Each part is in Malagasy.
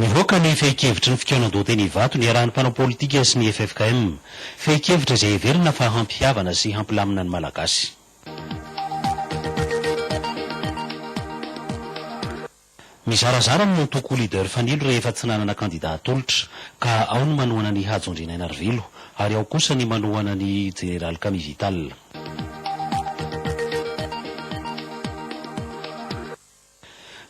Nivoaka ny fehin-kevitry ny fikaonan-doha teny Ivato niarahan'ny mpanao politika sy ny ffkm. Fehin-kevitra izay heverina fa hampihavana sy hampilamina ny Malagasy. Mizarazara ny antoko Leader Fanilo rehefa tsy nanana kandida atolotra, ka ao ny manohana an'i Hajo Andrianainarivelo, ary ao kosa ny manohana an'i Jeneraly Camille Vital.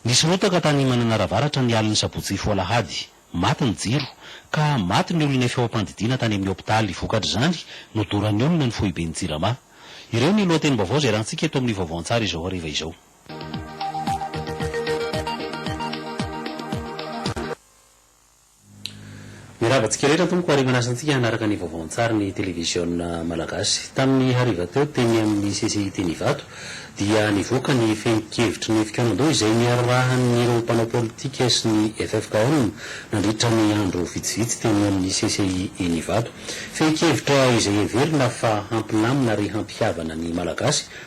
Nisy rotaka tany Mananara Avaratra ny alin'ny sabotsy hifoha alahady. Maty ny jiro, ka maty ny olona efa eo am-pandidiana tany amin'ny hopitaly. Vokatr'izany, nodoran'ny olona ny foiben'ny Jirama. Ireo ny lohatenim-baovao izay erantsika eto amin'ny Vaovao an-tsary izao hariva izao. Mirava antsika rehetra tompoko ary manasantsika hanaraka ny vaovao an-tsary ny televiziona malagasy. Tamin'ny hariva teo teny amin'ny CCI teny Ivato dia nivoaka ny fehin-kevitry ny fikaonandoha izay niararahan'ireo mpanao politika sy ny ffkm nandritra ny andro vitsivitsy teny amin'ny CCI eny Ivato. Fehin-kevitra izay heverina fa hampilamina ary hampihavana ny malagasy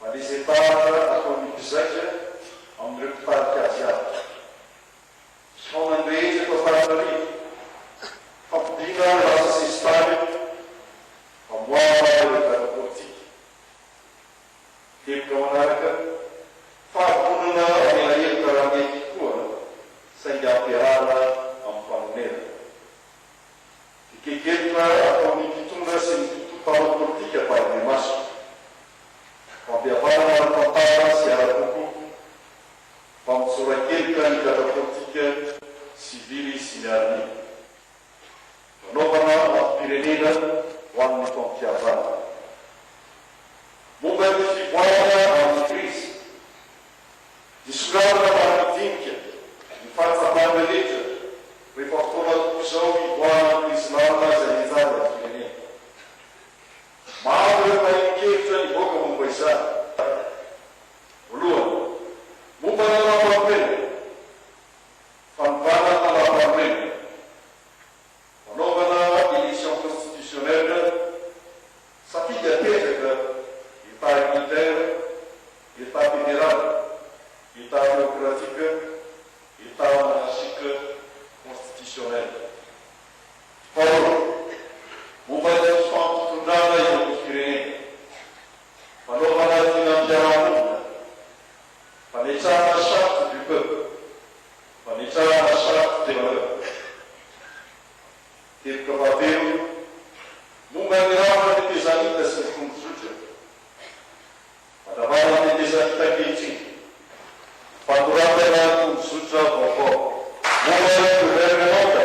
Valezentahatra ataon'ny mpizaika amin'ireo mpitarika azy avy. Fihaonany rehetra eto Antananarivo, fampodiana ny lasa sesitany, famoahana ireo gadra politika. Teboka manaraka, fahavonona mamela heloka raha mety koa, saingy ampiharana amin'ny fanonerana. Hetaheta ataon'ny mpitondra sy ny mpanao politika Baibe Maso. Fampihavanana ara-tantara sy ara-poko, fampitsoran-keloka ny gadra politika, sivily sy miaramila. Fanaovana antom-pirenena ho an'ny fampihavanana. Momba ny fivoarana amin'ny krizy. Hisongadina mba handinika ny fahatsapany rehetra rehefa fotoana tokoa izao hivoahan'ny krizy lalina izay hihajaly ny firenena. Maro ireo mpanenkevitra nivoaka momba izany. Voalohany, momba ny lalàmpanorenana, fanovana ny lalàmpanorenana. Fanaovana élection constitutionnelle, safidy apetraka, état unitaire, état fédéral, état théocratique, état monarchique constitutionnel. Faharoa, momba ny fifampitondràna eo amin'ny firenena, fanaovana vinam-piarahamonina, fametrahana charte du peuple. Fa nitsara ny safo teo anatiko. Teboka fahatelo, Momba ny rafitra tetezamita sy ny tondrozotra. Mandravara ny tetezamita ankehitriny, fanoratana tondrozotra vaovao. Momba ny governemanta.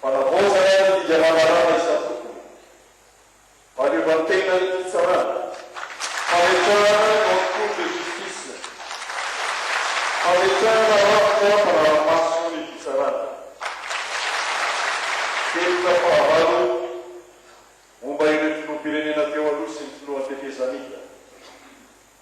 Fanavaozana ny didy aman-dalàna isan-tokony, fahaleovantena ny fitsarana, fametrahana ny haute cour de justice, fametrahana rafitra mpanara-maso ny fitsarana, teboka fahavalo momba ireo filoham-pirenena teo aloha sy ny filohan'ny tetezamita.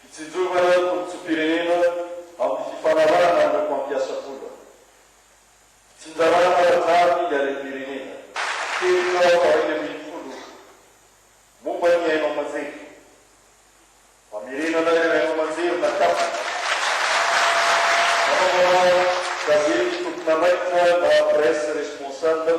Fitsinjovana tombontsoam-pirenena amin'ny fifanarahana amin'ireo mpampiasa vola. Fitsinjarana ara-drariny ny harem-pirenena. Teboka faharaika ambin'ny folo momba ny haino aman-jery. Famerenana ireo haino aman-jery nakatona. Fanaovana gazety tompon'andraikitra na presse responsable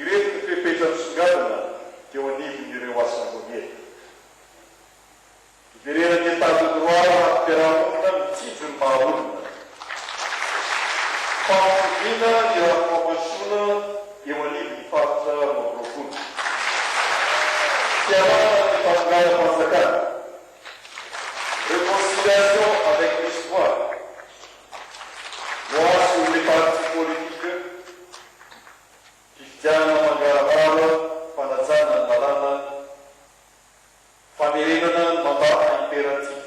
Ireto ny fepetra nisongadina teo anivon'ireo Asambleana. Hiverenan'ny Etat de droit eo antim-piarahamonina mijinjo ny maha olona. Fampitoviana ny rafi-pampanjosoana eo anivon'ny Faritra roa amby roapolo. Fialana amin'ny fahatonganam-panjakana. Reconciliation avec l'histoire. Voasy ireo partis politiques. Fifidianana mangarahara, fanajana ny lalàna, famerenana ny mandat à impératif.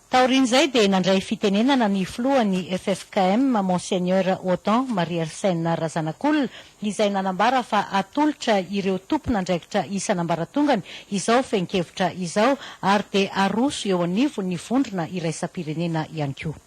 Taorian'izay dia nandray fitenenana ny filohan'ny ffkm, Monseigneur Otan Mariersène Razanakolona, izay nanambara fa atolotra ireo tompon'andraikitra isan'ambaratongany izao fehin-kevitra izao ary dia aroso eo anivon'ny vondrona iraisam-pirenena ihany koa.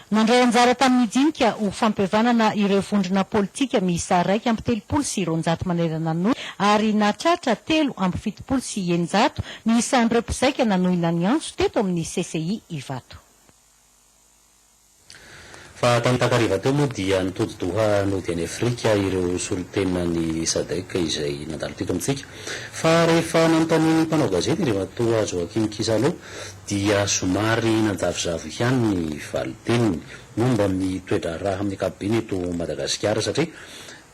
Nandray anjara tamin'ny dinika ho fampihavanana ireo vondrona politika miisa iraika amby telopolo sy roanjato manerana ny Nosy ary nahatratra telo amby fitopolo sy eninjato ny isan'ireo mpizaika nanohina ny antso teto amin'ny CCI Ivato. Fa tamin'ny takariva teo moa dia nitody Doha nody any Afrika ireo solontenan'ny Sadec izay nandalo teto amintsika. Fa rehefa nanontanian'ny mpanao gazety Andriamatoa Joachim Kisalo dia somary nanjavozavo ihany ny valin-teniny momba ny toe-draharaha amin'ny ankapobeny eto Madagasikara satria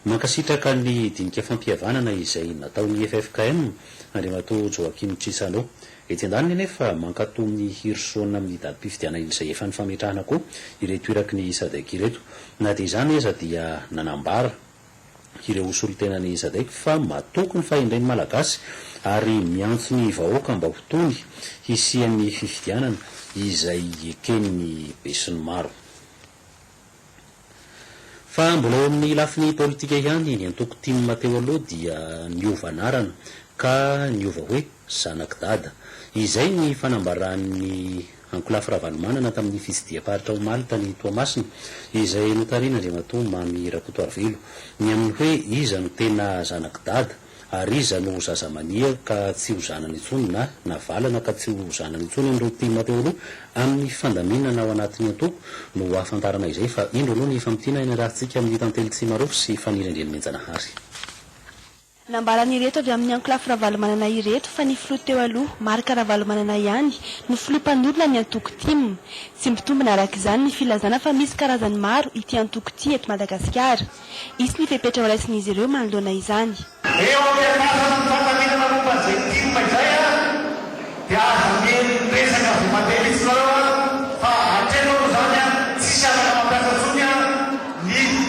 mankasitraka ny dinika fampihavanana izay nataon'ny ffkm, Andriamatoa Joachim Chissano. Etsy andaniny anefa mankatò ny hirosoana amin'ny datim-pifidianana izay efa nifametrahana koa ireto iraky ny Sadec ireto. Na dia izany aza dia nanambara. ireo ho solontenan'i Isadec fa matoky ny fahendren'ny Malagasy ary miantso ny vahoaka mba ho tony hisian'ny fifidianana izay eken'ny besinimaro fa mbola eo amin'ny lafiny politika ihany ny antoko tim teo aloha dia niova anarana ka niova hoe zanak'i Dada. Izay ny fanambaran'ny Ankolafy Ravalomanana tamin'ny fitsidiam-paritra omaly tany Toamasina, izay notarihin'Andriamatoa Mamy Rakotoarivelo, ny amin'ny hoe iza no tena zanak'i Dada ary iza no zazamania ka tsy ho zanany intsony na navalana ka tsy ho zanany intsony amin'ireo tim teo aloha amin'ny fandaminana ao anatin'ny antoko no hahafantarana izay fa indro aloha ny famintinana iarahantsika amin'ny Tantely Tsimarofo sy Faniriandriamihenjanahary. Nambaran'ireto avy amin'ny ankolafy Ravalomanana ireto fa ny filoha teo aloha, Marc Ravalomanana ihany no filoha mpanorina ny antoko tim. Tsy mitombina araka izany ny filazana fa misy karazany maro ity antoko ity eto Madagasikara. Hisy ny fepetra horaisin'izy ireo manoloana izany. Eo amin'ny andrasan'ny fifanamiana manompa an'izay tim izay dia aza miely miresaka vao mandeha mihitsy zareo fa hatreto aloha izany tsisy afaka mampiasa intsony ny.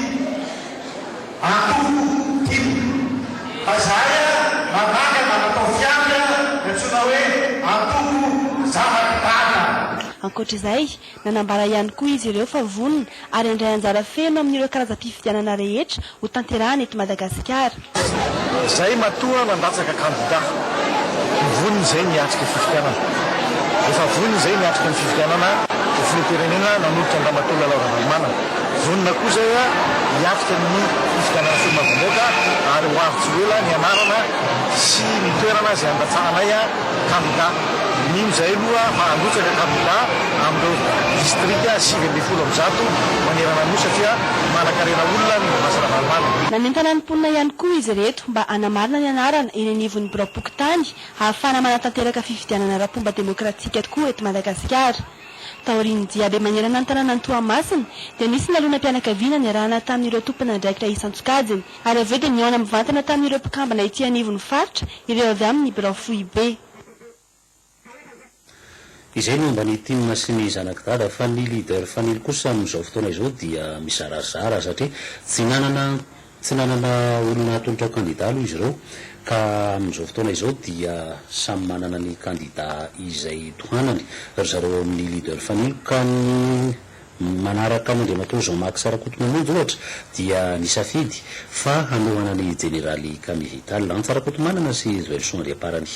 Antoho tim. Fa zahay a mananga na manao fiandry a ny antsoina hoe antoho zavaky dada. Ankoatra izay, nanambara ihany koa izy ireo fa vonona ary handray anjara feno amin'ireo karazam-pifidianana rehetra ho tanterahana eto Madagasikara. Izay matoa nandatsaka kandida, vonona izay ny hiatrika fifidianana. Efa vonona izay ny hiatrika ny fifidianana ho filoham-pirenena nanolotra an-dRamatoa Lalao Ravalomanana. Vonona koa izay hiatrika ny fifidianana solombavambaoaka ary ho avy tsy ho ela ny anarana sy ny toerana izay handatsahanay kandida. Mino izahay aloha fa handrotsaka kandida amin'ireo distrika sivy ambin'ny folo amby zato manerana ny Nosy satria manankarena olona ny Mouvance Ravalomanana. Nanentana ny mponina ihany koa izy ireto mba hanamarina ny anarana eny anivon'ny biraom-pokontany hahafahana manatanteraka fifidianana ara-pomba demokratika tokoa eto Madagasikara. Taorian'ny diabe manerana ny tanànan'i Toamasina dia nisy nalonam-pianakaviana niarahana tamin'ireo tompon'andraikitra isan-tsokajiny ary avy eo dia nihaona mivantana tamin'ireo mpikambana ety anivon'ny faritra ireo avy amin'ny birao foibe. Izay ny momba ny tim sy ny zanaky dada fa ny leader fanilo kosa amin'izao fotoana izao dia mizarazara satria tsy nanana Tsy nanana olona hatolotra ho kandida aloha izy ireo ka amin'izao fotoana izao dia samy manana ny kandida izay tohanany ry zareo ao amin'ny Leader Fanilo ka ny manaraka an'Andriamatoa Jean Max Rakotomamonjy ohatra dia nisafidy fa hanohana ny Jeneraly Camille Vital, Antsa Rakotomanana sy Raveloson Andriamparany.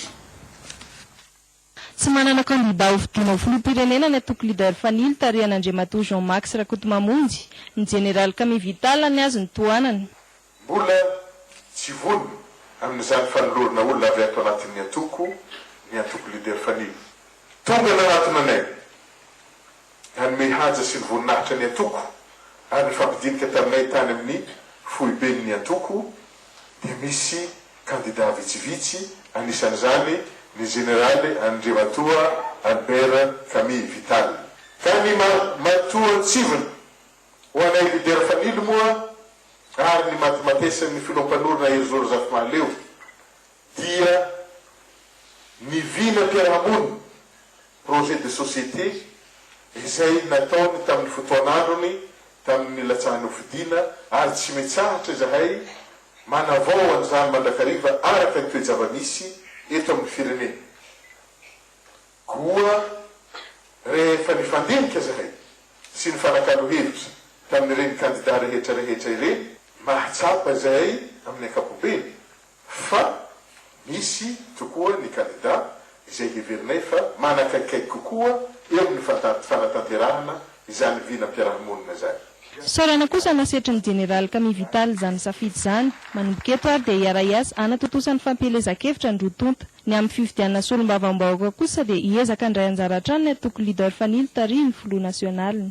Tsy manana kandidà ho fidiana ho filoham-pirenena ny antoko Leader Fanilo tarihan'Andriamatoa Jean Max Rakotomamonjy, ny Jeneraly Camille Vital ny azy no tohanany. Mbola tsy vonona amin'izany fanolorana olona avy ato anatin'ny antoko ny antoko Leader Fanilo. Tonga nanatona anay Nanome haja sy ny voninahitra ny antoko ary nifampidinika taminay tany amin'ny foiben'ny antoko dia misy kandida vitsivitsy, anisan'izany ny Jeneraly Andriamatoa Albert Camille Vital. Ka ny matoantsivina ho anay lidera Fanilo moa ary ny matimatesan'ny Filoham-panorona Herizo Razafimahaleo dia ny vinam-piarahamonina, projet de société, izay nataony tamin'ny fotoan'androny tamin'ny nilatsahan'ny hofidiana ary tsy mitsahatra izahay manavao an'izany mandrakariva araka ny toe-java-misy eto amin'ny firenena. Koa rehefa nifandinika izahay sy nifanakalo hevitra tamin'ireny kandida rehetra rehetra ireny, mahatsapa izahay amin'ny ankapobeny fa misy tokoa ny kandida izay heverinay fa manakaikikaiky kokoa eo amin'ny fanatanterahana izany vinam-piarahamonina izany. Fisaorana kosa no asetry ny Jeneraly Camille Vital izany safidy izany. Manomboka eto ary dia hiara-hiasa hanatontosa ny fampielezan-kevitra ny roa tonta. Ny amin'ny fifidianana solombavambahoaka kosa dia hiezaka handray anjara hatrany ny antoko Leader Fanilo tarihin'ny Filoha Nasionaliny.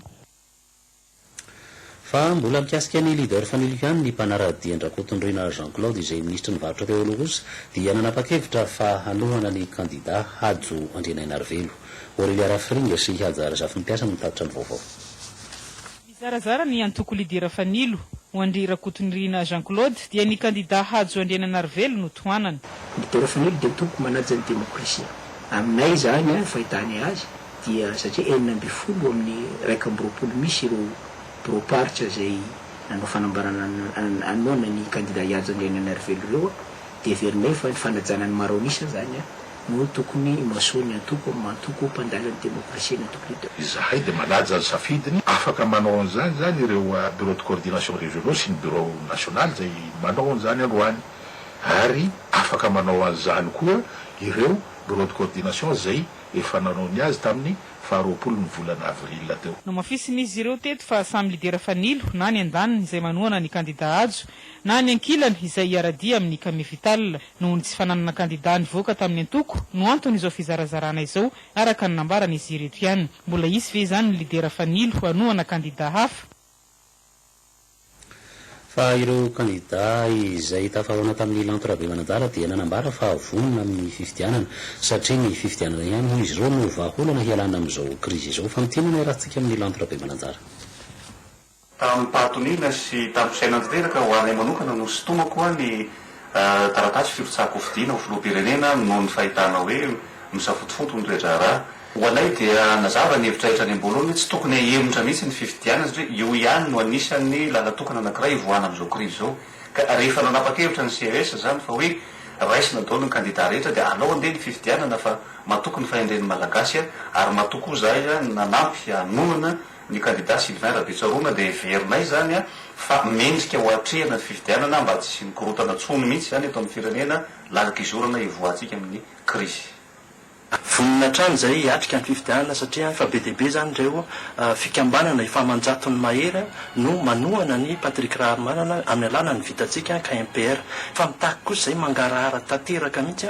Fa mbola mikasika ny leader family ihany ny mpanara-dia an-dRakotondroina Jean Claude izay minisitry ny varotra teo aloha kosa dia nanapa-kevitra fa hanohana ny kandida Hajo Andrianainarivelo, Aurelia Rafiringa sy Haja Razafimpiasa no mitatitra ny vaovao. Nizarazara ny antoko lidera fanilo ho an-dry Rakotondriana Jean Claude dia ny kandida Hajo Andrianainarivelo no tohanana. Lidera fanilo dia toko manaja ny demokrasia. Aminay izany, fahitànay azy, dia satria enina ambin'ny folo amin'ny iraika amby roapolo misy ireo biraom-paritra izay nanao fanambarana hanohana ny kandida Hiajo Andrianainarivelo ireo dia heverinay fa ny fanajana ny maro an'isa izany no tokony himasoa ny antoko amin'ny antoko mpandala ny demokrasia ny antoko leader. Izahay dia manaja ny safidiny, afaka manao an'izany izany ireo Bureau de coordination régionaux sy ny Bureau national izay manao an'izany androany ary afaka manao an'izany koa ireo Bureau de coordination izay efa nanao ny azy tamin'ny faha roapolon'ny volana avril teo. Nohamafisin'izy ireo teto fa samy lidera fanilo na ny andaniny izay manohana ny kandidà Hajo na ny ankilany izay hiara-dia amin'ny Kame Vital. Noho ny tsy fananana kandidà nivoaka tamin'ny antoko no anton'izao fizarazarana izao, araka ny nambaran'izy ireto ihany. Mbola hisy ve izany ny lidera fanilo hanohana kandidà hafa? Fa ireo kandidà izay tafahaona tamin'ny lanto Rabemanadala dia nanambara fa vonona amin'ny fifidianana. Satria ny fifidianana ihany hoy izy ireo no vahaolana hialana amin'izao krizy izao. Fantinana ny haratsika amin'ny lanto Rabemanadala. Tamim-pahatoniana sy tamim-pisaina tanteraka ho anay manokana no sintomako ny Taratasy firotsahan-kofidina ho filoham-pirenena noho ny fahitana hoe misafotofoto ny toe-draharaha. Ho anay dia nazava ny hevitra rehetra any am-boalohany hoe tsy tokony hahemotra mihitsy ny fifidianana satria io ihany no anisan'ny lalan-tokana anankiray hivoahana amin'izao krizy izao. Ka rehefa nanapa-kevitra ny CES izany fa hoe raisina daholo ny kandida rehetra dia alao andeha ny fifidianana fa matoky ny fahendren'ny Malagasy ary matoky koa za izany nanampy hanonona Ny kandida Sylvain Rabetsaroana dia heverinay izany fa mendrika ho atrehina ny fifidianana mba tsy hisian'ny korontana intsony mihitsy izany eto amin'ny firenena, lalik'izorana hivoahantsika amin'ny krizy. Vonona hatrany izahay hiatrika ny fifidianana satria efa be dia be izany ireo fikambanana efa aman-jatony mahery no manohana an'i Patrick Raharimanana amin'ny alalan'ny Vitantsika ka MPR. Fa mitaky kosa izay mangarahara tanteraka mihitsy.